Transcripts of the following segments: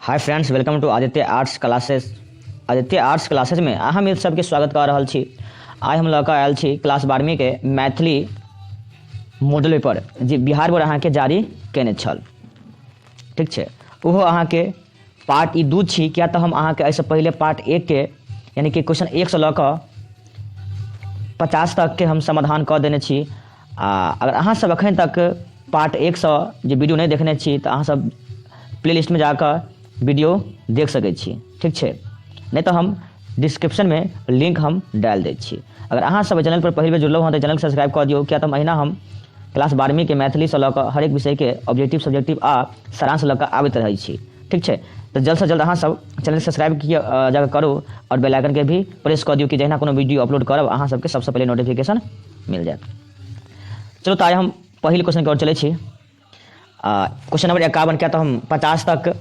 Hi friends welcome to Aditya arts classes Aditya arts classes में अहम इत सबके स्वागत कर रहल छी आइ हम लऽ कऽ आयल छी क्लास बारहवीं के मैथिली मॉडल पर जे बिहार पर अहाँके जारी केने छल ठीक छै ओहो अहाँके पार्ट ई दू छी किया तऽ हम अहाँके एहिसँ पहिले पार्ट एक के यानि कि क्वेश्चन एक से लऽ कऽ पचास तक के हम समाधान कऽ देने छी आ अगर अहाँ सब अखन तक पार्ट एक सौ जे वीडियो नहीं देखने छी तऽ अहाँ सब प्ले लिस्टमे जा कऽ वीडियो देख सकै छी ठीक छै नहीं तो हम डिस्क्रिप्शन में लिंक हम डाल दै छी अगर अहाँ सब चैनल पर पहले बेर जुड़लहुँ हँ तऽ चैनल सब्सक्राइब कऽ दियौ किया तऽ महीना हम क्लास बारहवीं के मैथिली से लऽ कऽ हरेक विषय के ऑब्जेक्टिव सब्जेक्टिव आ सारांश लऽ कऽ आबैत रहै छी ठीक छै तऽ जल्द से जल्द अहाँ सब चैनल सब्सक्राइब किया जाकर करू और बेल आइकन के भी प्रेस कऽ दियौ कि जहिना कोनो वीडियो अपलोड करब अहाँ सबके सबसे पहले नोटिफिकेशन मिल जायत चलो तो आइ हम पहिल क्वेश्चन की ओर चले छी आ क्वेश्चन नंबर एकावन के तो हम पचास तक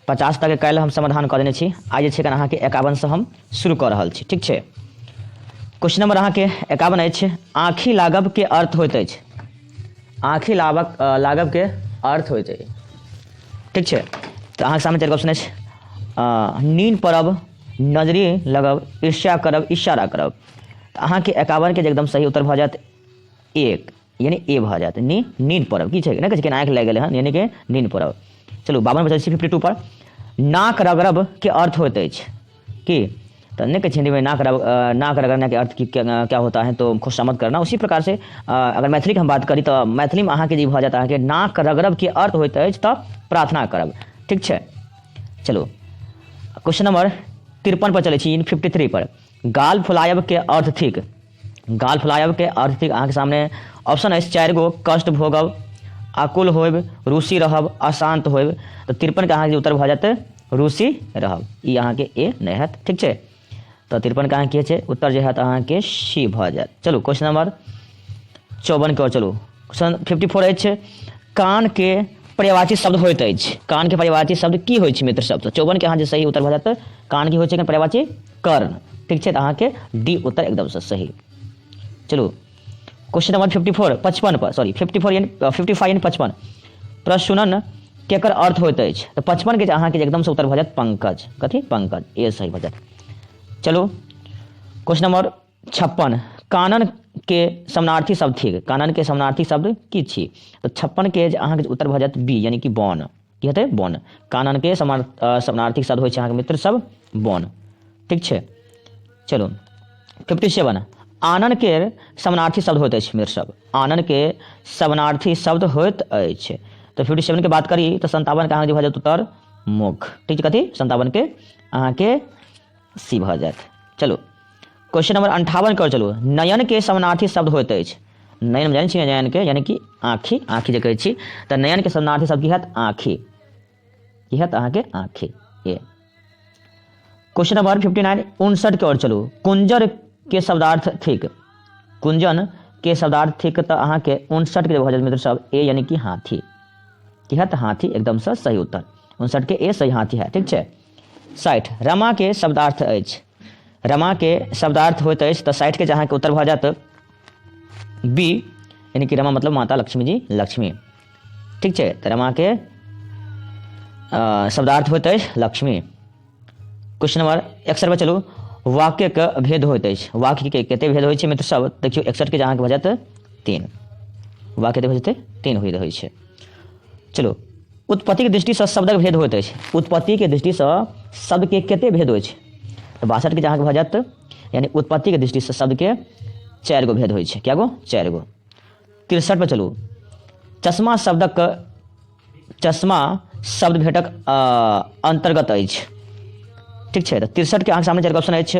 पचास तक कल हम समाधान कर देने छी आज जे छै एखन अहाँके एकावनसँ हम शुरू कर रहल छी ठीक छै क्वेश्चन नंबर अहाँके एकावन अछि आँखि लागब के अर्थ होइत अछि आँखि लाबक अ, लागब के अर्थ होइत अछि ठीक छै तऽ अहाँके सामने चारि ऑप्शन अछि अ, नीन पड़ब नजरी लगब ईर्ष्या करब इशारा करब तऽ अहाँके एकावनके जे एकदम सही उत्तर भऽ जायत एक यानी ए भऽ जायत नी नीन पड़ब की छै नहि कहै छै आँखि लागि गेलै हन यानी कि नीन पड़ब चलू बावन बचल छी फिफ्टी टू पर नाक रगड़ब के अर्थ होइत अछि की तो नहीं कहे हिंदी में ना कर ना कर करना के अर्थ की क्या, क्या होता है तो खुशामद करना उसी प्रकार से अगर मैथिली के हम बात करी तो मैथिली में अहाँ के जी भऽ जाता है कि नाक रगरब के अर्थ होता है तो प्रार्थना करब ठीक है चलो क्वेश्चन नंबर तिरपन पर चले फिफ्टी थ्री पर गाल फुलायब के अर्थ थिक गाल फुलायब के अर्थ थिक अहाँके सामने ऑप्शन अछि चारि गो कष्ट भोगब आकुल होइब रूसी रहब अशांत होइब तऽ तिरपनके अहाँके उत्तर भऽ जायत रूसी रहब ई अहाँके ए नहि हैत ठीक छै तऽ तिरपनके अहाँके की छै उत्तर जे हैत अहाँके सी भऽ जायत चलू क्वेश्चन नंबर चौवनके ओर चलू क्वेश्चन फिफ्टी फोर अछि कानके पर्यावाची शब्द होइत अछि कानके पर्यावाची शब्द की होइत छै मित्र शब्द चौवनके अहाँ जे सही उत्तर भऽ जायत कान की होइत छै एखन पर्यावाची कर्ण ठीक छै तऽ अहाँके डी उत्तर एकदमसँ सही चलू क्वेश्चन नंबर फिफ्टी फोर पचपन पर sorry fifty four and fifty five and पचपन प्रश्नन केकर अर्थ होइत अछि तऽ पचपन के जे अहाँके जे एकदमसँ उत्तर भऽ जायत पंकज कथी पंकज ए सही भऽ जायत चलू क्वेश्चन नंबर छप्पन कानन के समानार्थी शब्द थिक कानन के समानार्थी शब्द की छी तो छप्पन के अहाँ के उत्तर भ जात बी यानी कि बन की हेतै बन कानन के समानार्थी शब्द हो अहाँ के मित्र सब बन ठीक है चलो फिफ्टी सेवन आनन के समानार्थी शब्द होते मित्र सब आनन के समानार्थी शब्द होत तो फिफ्टी सेवन के बात करी तो संतावन के अहाँ के भऽ जात उत्तर मुख ठीक है कथी संतावन के अहाँ के सी भऽ जायत चलू क्वेश्चन नंबर अंठावन कर चलू नयन के समानार्थी शब्द होइत अछि नयन जानै छी नयन के यानी कि आँखि आँखि जे कहै छी तऽ नयन के समानार्थी शब्द की हत आँखि की हत अहाँके आँखि ये क्वेश्चन नंबर फिफ्टी नाइन उनसठ के ओर चलू कुंजर के शब्दार्थ थिक कुंजन के शब्दार्थ थिक तऽ अहाँके उनसठ के भऽ जायत मित्र सब ए यानी कि हाथी की हत हाथी एकदम से सही उत्तर उनसठ के ए सही हाथी है ठीक छै साठि रमाके शब्दार्थ अछि रमाके शब्दार्थ होइत अछि तऽ साठिके जे अहाँके उत्तर भऽ जायत बी यानी कि रमा मतलब माता लक्ष्मी जी लक्ष्मी ठीक छै तऽ रमाके शब्दार्थ होइत अछि लक्ष्मी क्वेश्चन नंबर एकसठि पर चलू वाक्यके भेद होइत अछि वाक्यके कते भेद होइत छै मित्र सब देखियौ एकसठिके जे अहाँके भऽ जायत तीन वाक्य कते भऽ जेतै तीन होइत रहैत छै चलो उत्पत्ति के दृष्टि से शब्दक भेद होइत अछि उत्पत्ति के दृष्टि से शब्द के कते भेद होइ छै तऽ बासठ के जहाँ भऽ जायत यानी उत्पत्ति के दृष्टि से शब्द के चारि गो भेद होइ छै कए गो चारि गो तिरसठ पर चलू चश्मा शब्दक चश्मा शब्द भेटक अ, अंतर्गत अछि ठीक छै तऽ तिरसठ के अहाँके सामने चारि ऑप्शन अछि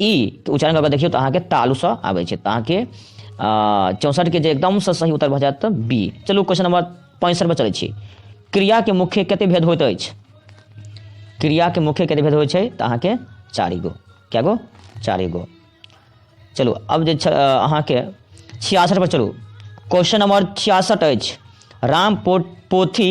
ई के उच्चारण कऽ कऽ देखियौ तऽ अहाँके तालुसँ आबै छै तऽ अहाँके चौंसठके जे एकदमसँ सही उत्तर भऽ जायत तऽ बी चलू क्वेश्चन नंबर पैंसठि पर चलै छी क्रियाके मुख्य कते भेद होइत अछि क्रियाके मुख्य कते भेद होइत छै तऽ अहाँके चारि गो कए गो चारि गो चलू अब जे छ- अ, अहाँके छियासठ पर चलू क्वेश्चन नंबर छियासठ अछि राम पो पोथी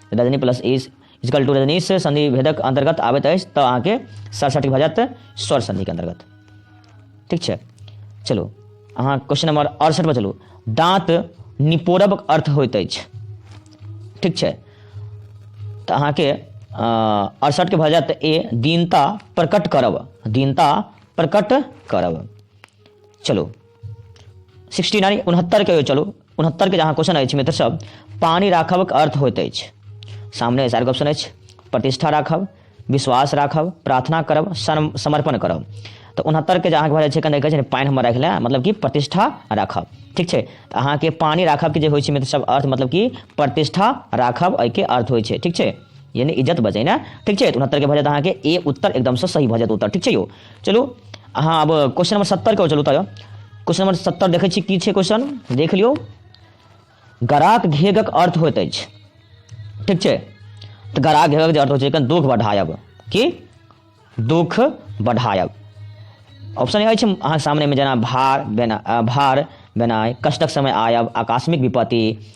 रजनी प्लस इज इजकल टू रजनी से संधि भेदक अंतर्गत आबैत अछि तऽ अहाँके सरसठ भऽ जायत स्वर संधिके अंतर्गत ठीक छै चलू अहाँ क्वेश्चन नंबर अड़सठ पर चलू दाँत निपोरबक अर्थ होइत अछि ठीक छै तऽ अहाँके अड़सठके भऽ जायत ए दीनता प्रकट करब दीनता प्रकट करब चलो सिक्सटी नाइन उनहत्तर के चलो उनहत्तर के जहाँ क्वेश्चन अछि मित्र सब पानी राखबक अर्थ होइत अछि सामने सार ऑप्शन अछि प्रतिष्ठा राखब विश्वास राखब प्रार्थना करब सम- समर्पण करब तऽ उनहत्तर के जे अहाँके भऽ जाइ छै कने कहै छै ने पानि हमर राखि लए मतलब कि प्रतिष्ठा राखब ठीक छै तऽ अहाँके पानि राखब के जे होइ छै मित्र सब अर्थ मतलब कि प्रतिष्ठा राखब एहिके अर्थ होइ छै ठीक छै यानी इज्जत बचैना ठीक छै तऽ उनहत्तर के भऽ जायत अहाँके ए उत्तर एकदमसँ सही भऽ जायत उत्तर ठीक छै यौ चलू अहाँ अब क्वेश्चन नंबर सत्तर के चलू तब क्वेश्चन नंबर सत्तर देखै छी की छै क्वेश्चन देख लियौ गराक घेगक अर्थ होइत अछि ठीक छै तऽ गराक घेगक जे अर्थ होइ छै एखन दुख बढ़ायब की दुख बढ़ायब ऑप्शन अछि अहाँके सामनेमे जेना भार बेना अ, भार बेनाइ कष्टक समय आयब आकस्मिक विपत्ति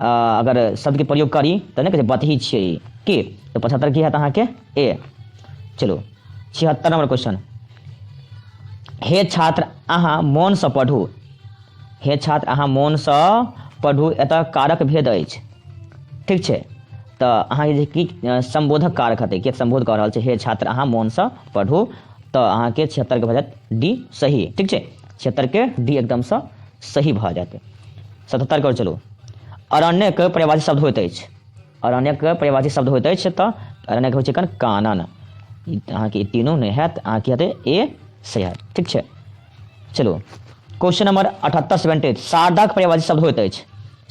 आ, अगर शब्दके प्रयोग करी तऽ नहि कहै छै बतही छियै ई की तऽ पचहत्तर की हैत अहाँके ए चलू छिहत्तर नंबर क्वेश्चन हे छात्र अहाँ मोनसँ पढ़ू हे छात्र अहाँ मोनसँ पढ़ू एतऽ कारक भेद अछि ठीक छै तऽ अहाँके जे की अ, सम्बोधक कारक हेतै के सम्बोध कऽ रहल छै हे छात्र अहाँ मोनसँ पढ़ू तऽ अहाँके छिहत्तरके भऽ जायत डी सही ठीक छै क्षेत्रके डी एकदमसँ सही भऽ जायत सतहत्तरके ओर चलू अरण्यके परिभाषित शब्द होइत अछि अरण्यके परिभाषित शब्द होइत अछि तऽ अरण्यके होइ छै कन कानन अहाँके ई तीनू नहि हैत अहाँके हेतै ए से हैत ठीक छै चलू क्वेश्चन नंबर अठहत्तर सेवेंटी एट शारदाके परिभाषित शब्द होइत अछि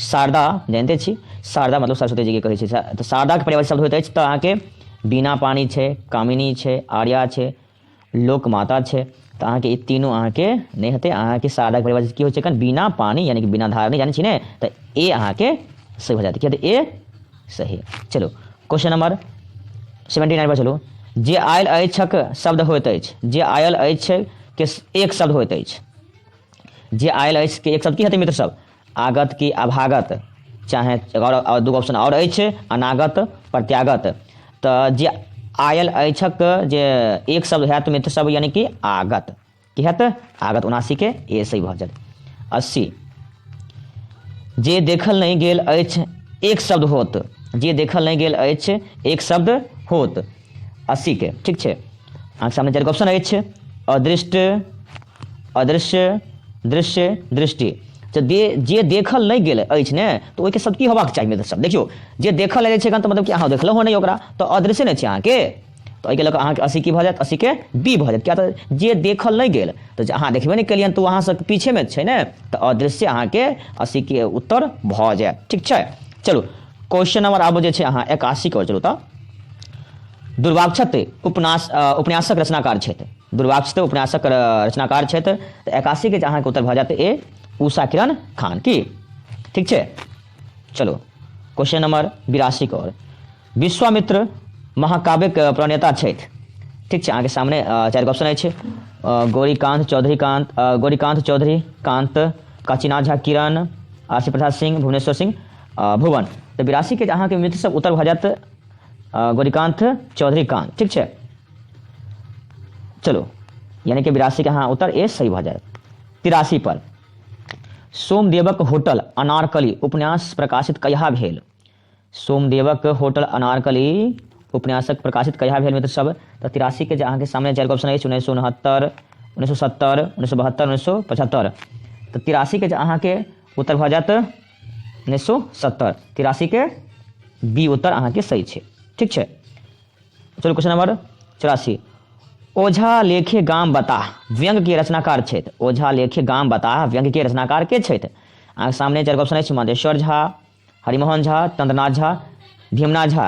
शारदा जानिते छी शारदा मतलब सरस्वती जीके कहै छै तऽ शारदाके परिभाषित शब्द होइत अछि तऽ अहाँके बीना पानी छै कामिनी छै आर्या छै लोक माता छै तऽ अहाँके ई तीनों अहाँके नहि हेतै अहाँके साधक परिभाषित की होइ छै एखन बिना पानी यानी कि बिना धार नहि जानै छी ने तऽ ए अहाँके सही भऽ जायत किया तऽ ए सही चलू क्वेश्चन नंबर सेवेंटी नाइन पर चलू जे आयल अछिक शब्द होइत अछि जे आयल अछि के एक शब्द होइत अछि जे आयल अछि के एक शब्द की हेतै मित्र सब आगत कि अभागत चाहे आओर दूगो ऑप्शन आओर अछि अनागत प्रत्यागत तऽ जे आयल अछिक जे एक शब्द होयत मित्र सब यानी कि आगत की होयत आगत उनासीके ए सही भऽ जायत अस्सी जे देखल नहि गेल अछि एक शब्द होत जे देखल नहि गेल अछि एक शब्द होत अस्सीके ठीक छै अहाँके सामने चारिगो ऑप्शन अछि अदृष्ट अदृश्य दृश्य दृष्टि तऽ दे जे देखल नहि गेल अछि ने तऽ ओहिके सब की होबाक चाही मित्र सब देखियौ जे देखल अछि एखन तऽ मतलब कि अहाँ देखलहुँ नहि ओकरा तऽ अदृश्य नहि छै अहाँके तऽ एहिके लऽ कऽ अहाँके अस्सी की भऽ जायत अस्सीके बी भऽ जायत किया तऽ जे देखल नहि गेल तऽ जे अहाँ देखबे नहि केलियनि तऽ ओ अहाँसँ पीछेमे छै ने तऽ अदृश्य अहाँके अस्सीके उत्तर भऽ जायत ठीक छै चलू क्वेश्चन नंबर आब जे छै अहाँ एकासी के चलू तऽ दुर्वाक्षत उपन्यास उपन्यासक रचनाकार छथि दुर्वाक्षत उपन्यासक रचनाकार छथि तऽ एकासी के अहाँके उत्तर भऽ जायत ए उषा किरण खान की ठीक छै चलो क्वेश्चन नंबर बिरासी के और विश्वामित्र महाकाव्यक प्रणेता छथि ठीक छै अहाँके सामने चारि ऑप्शन अछि गौरीकांत चौधरी कांत गौरीकांत चौधरी कांत काशीनाथ झा किरण आशी प्रसाद सिंह भुवनेश्वर सिंह आ, भुवन तऽ बिरासीके अहाँके मित्र सब उत्तर भऽ जायत आ, गौरीकान्त चौधरी कान ठीक छै चलो यानी कि बिरासीके अहाँ उत्तर ए सही भऽ जायत तिरासी पर सोमदेवक होटल अनारकली उपन्यास प्रकाशित कहिया भेल सोमदेवक होटल अनारकली उपन्यासक प्रकाशित कहिया भेल मित्र सब तऽ तिरासी के जे अहाँके सामने चारि गो ऑप्शन अछि उन्नैस सौ उनहत्तर उन्नैस सौ सत्तर उन्नैस सौ बहत्तर उन्नैस सौ पचहत्तर तऽ तिरासी के जे अहाँके उत्तर भऽ जायत उन्नैस सए सत्तर तिरासीके बी उत्तर अहाँके सही छै ठीक छै चलू क्वेश्चन नंबर चौरासी ओझा लेखे गाम बताह व्यंग के रचनाकार छथि ओझा लेखे गाम बताह व्यंग के रचनाकार के छथि अहाँके सामने चारि ऑप्शन अछि मधेश्वर झा हरिमोहन झा चंद्रनाथ झा भीमनाथ झा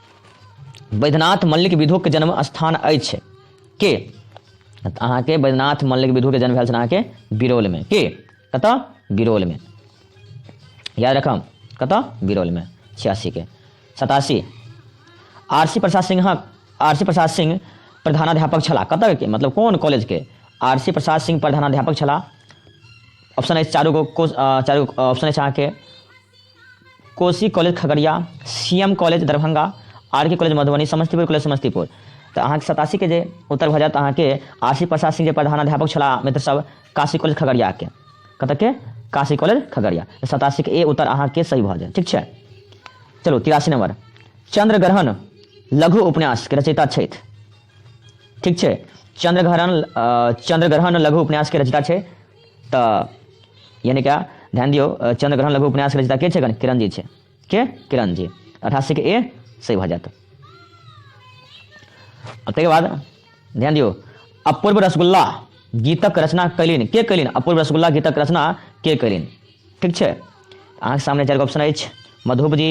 बैद्यनाथ मल्लिक विधुक जन्म स्थान अछि के तऽ अहाँके बैद्यनाथ मल्लिक विधुके जन्म भेल छल अहाँके बिरौलमे के कतऽ बिरौलमे याद रखब कतऽ बिरौलमे छियासीके सतासी आर सी प्रसाद सिंहक आर सी प्रसाद सिंह प्रधानाध्यापक छलाह कतऽ के मतलब कोन कॉलेजके आर सी प्रसाद सिंह प्रधानाध्यापक छलाह ऑप्शन अछि चारू गो कोश- अ, चारू ऑप्शन अछि अहाँके Kosi college Khagaria C M college Darbhanga R K college Madhubani Samastipur college Samastipur तऽ अहाँके सतासी के जे उत्तर भऽ जायत अहाँके आशी प्रसाद सिंह जे प्रधान अध्यापक छलाह मित्र सब काशी कॉलेज खगड़ियाके कतऽके काशी कॉलेज खगड़िया सतासी के ए उत्तर अहाँके सही भऽ जायत ठीक छै चलू तिरासी नंबर चंद्र ग्रहण लघु उपन्यास के रचयिता छथि ठीक छै चंद्र ग्रहण अ, चंद्र ग्रहण लघु उपन्यास के रचयिता छै तऽ यानि क्या ध्यान दियौ अ, चंद्रग्रहण लघु उपन्यास के रचयिता के छै कनि किरण जी छै के किरण जी अठासी के ए सही भऽ जायत आ ताहिके बाद ध्यान दियौ अपूर्व रसगुल्ला गीतक रचना कैलिन के कैलिन अपूर्व रसगुल्ला गीतक रचना के कैलिन ठीक छै अहाँके सामने चारि गो ऑप्शन अछि मधुप जी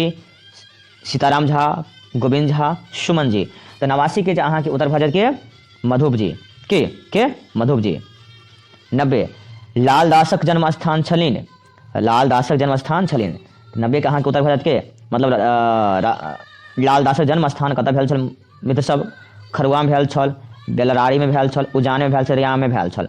सीताराम झा गोविंद झा सुमन जी तऽ नवासीके जे अहाँके उत्तर भऽ जायत के मधुप जी के के मधुप जी नब्बे लाल दासक जन्म स्थान छलिन लाल दासक जन्म स्थान छलिन नब्बे के अहाँके उत्तर भऽ जायत के मतलब अ, रा- लाल दासक जन्म स्थान कतऽ भेल छल मित्र सब खरुआमे भेल छल बेलरारीमे भेल छल उजानमे भेल छल रियामे भेल छल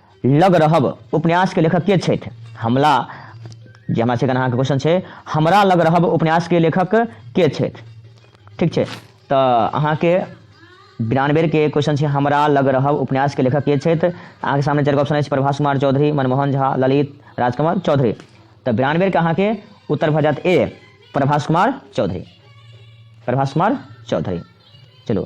लग रहब उपन्यासके लेखक के छथि हमला जे हमरा सबके अहाँके क्वेश्चन छै हमरा लग रहब उपन्यासके लेखक के छथि ठीक छै तऽ अहाँके बिरानबेरके क्वेश्चन छै हमरा लग रहब उपन्यासके लेखक के छथि अहाँके सामने चारि ऑप्शन अछि प्रभास कुमार चौधरी मनमोहन झा ललित राजकमल चौधरी तऽ बिरानबेरके अहाँके उत्तर भऽ जायत ए प्रभास कुमार चौधरी प्रभास कुमार चौधरी चलू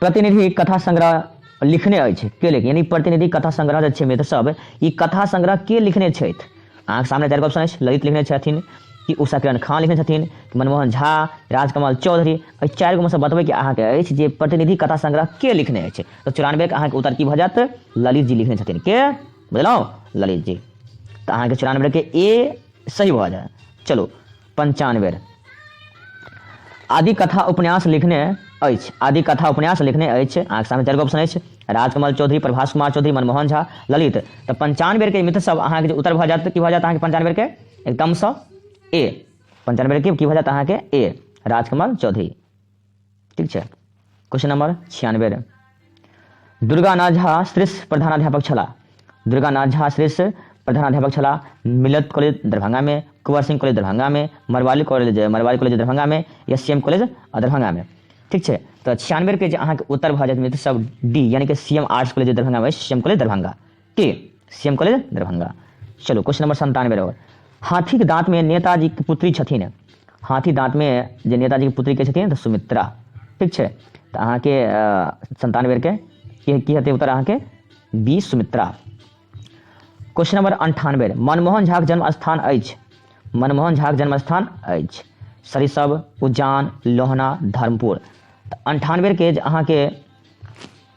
प्रतिनिधि कथा संग्रह लिखने अछि के लेख यानी प्रतिनिधि कथा संग्रह जे छै मित्र सब ई कथा संग्रह के लिखने छथि अहाँके सामने चारि ऑप्शन अछि ललित लिखने छथिन कि उषा किरण खान लिखने छथिन कि मनमोहन झा राजकमल चौधरी एहि चारि गोमे से बतबै कि अहाँके अछि जे प्रतिनिधि कथा संग्रह के लिखने अछि तऽ चौरानबेके अहाँके उत्तर की भऽ जायत ललित जी लिखने छथिन के बुझलहुँ ललित जी तऽ अहाँके चौरानबेके ए सही भऽ जायत चलू पंचान बेर आदि कथा उपन्यास लिखने अछि आदि कथा उपन्यास लिखने अछि अहाँके सामने चारि गो ऑप्शन अछि राजकमल चौधरी प्रभास कुमार चौधरी मनमोहन झा ललित तऽ पंचान बेरके मित्र सब अहाँके जे उत्तर भऽ जायत तऽ की भऽ जायत अहाँके पंचान बेरके एकदमसँ ए पंचान बेरके की भऽ जायत अहाँके ए राजकमल चौधरी ठीक छै क्वेश्चन नंबर छियानबे रे दुर्गानाथ झा श्रेष्ठ प्रधानाध्यापक छला दुर्गानाथ झा श्रेष्ठ प्रधानाध्यापक छला मिलत कॉलेज दरभंगा में कुंवर सिंह कॉलेज दरभंगा में मरवाली कॉलेज मरवाली कॉलेज दरभंगा में या सी एम कॉलेज दरभंगा में ठीक छै तो छियानबे के अहाँ के उत्तर भा जायत मित्र सब डी यानी कि C M arts college Darbhanga में सी एम कॉलेज दरभंगा के सीएम कॉलेज दरभंगा चलू क्वेश्चन नंबर संतानवे रहो हाथीके दाँतमे नेताजीके पुत्री छथिन हाथी दाँतमे जे नेताजीके पुत्री के छथिन तऽ सुमित्रा ठीक छै तऽ अहाँके संतानवे बेरके की की हेतै उत्तर अहाँके बी सुमित्रा क्वेश्चन नंबर अंठानवे मनमोहन झाक जन्म स्थान अछि मनमोहन झाक जन्म स्थान अछि सरिसब उज्जान लोहना धर्मपुर तऽ अंठानवे के जे अहाँके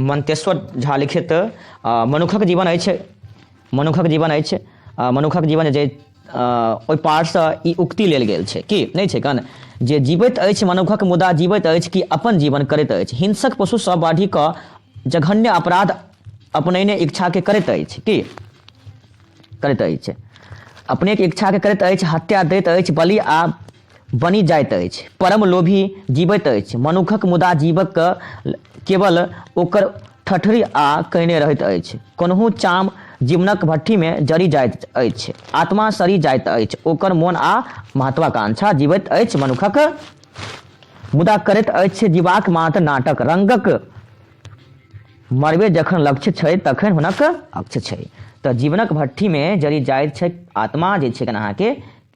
मन्तेश्वर झा लिखित आ, मनुखक जीवन अछि मनुखक जीवन अछि आ, मनुखक जीवन जे आ, ओहि पारसँ ई उक्ति लेल गेल छै कि नहि छै कन जे जीवैत अछि मनुखक मुदा जीवैत अछि कि अपन जीवन करैत अछि हिंसक पशुसँ बाढ़ि कऽ जघन्य अपराध अपनैने इच्छाके करैत अछि कि करैत अछि अपनेक इच्छाके करैत अछि हत्या दैत अछि बलि आ बनि जाइत अछि। परम लोभी जीबैत अछि मनुखक मुदा जीबक केवल ओकर ठठरी आ कयने रहैत अछि। कोनहु चाम जीवनक भट्ठीमे जरि जाइत अछि। आत्मा सड़ि जाइत अछि ओकर मोन आ महत्वाकांक्षा जीबैत अछि मनुखक मुदा करैत अछि जीबाक मात्र नाटक। रंगक मरबे जखन लक्ष्य छै तखन हुनक अक्ष्य छै। तँ जीवनक भट्ठीमे जरि जाइत छैक आत्मा जे छैक अहाँकेँ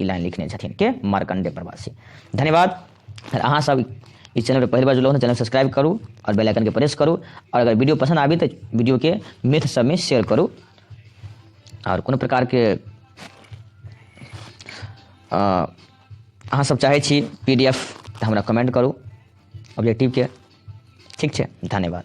ई लाइन लिखने छथिन के मार्कंडे प्रवासी धन्यवाद अहाँ सब इस चैनल पर पहली बार जुड़ल चैनल सब्सक्राइब करूँ और बेल आइकन के प्रेस करूँ और अगर वीडियो पसंद आबी तो वीडियो के मित्र सब में शेयर करूँ और कोनो प्रकार के अहाँ सब चाहे छी पी डी एफ तो हमारा कमेंट करूँ ऑब्जेक्टिव के ठीक है धन्यवाद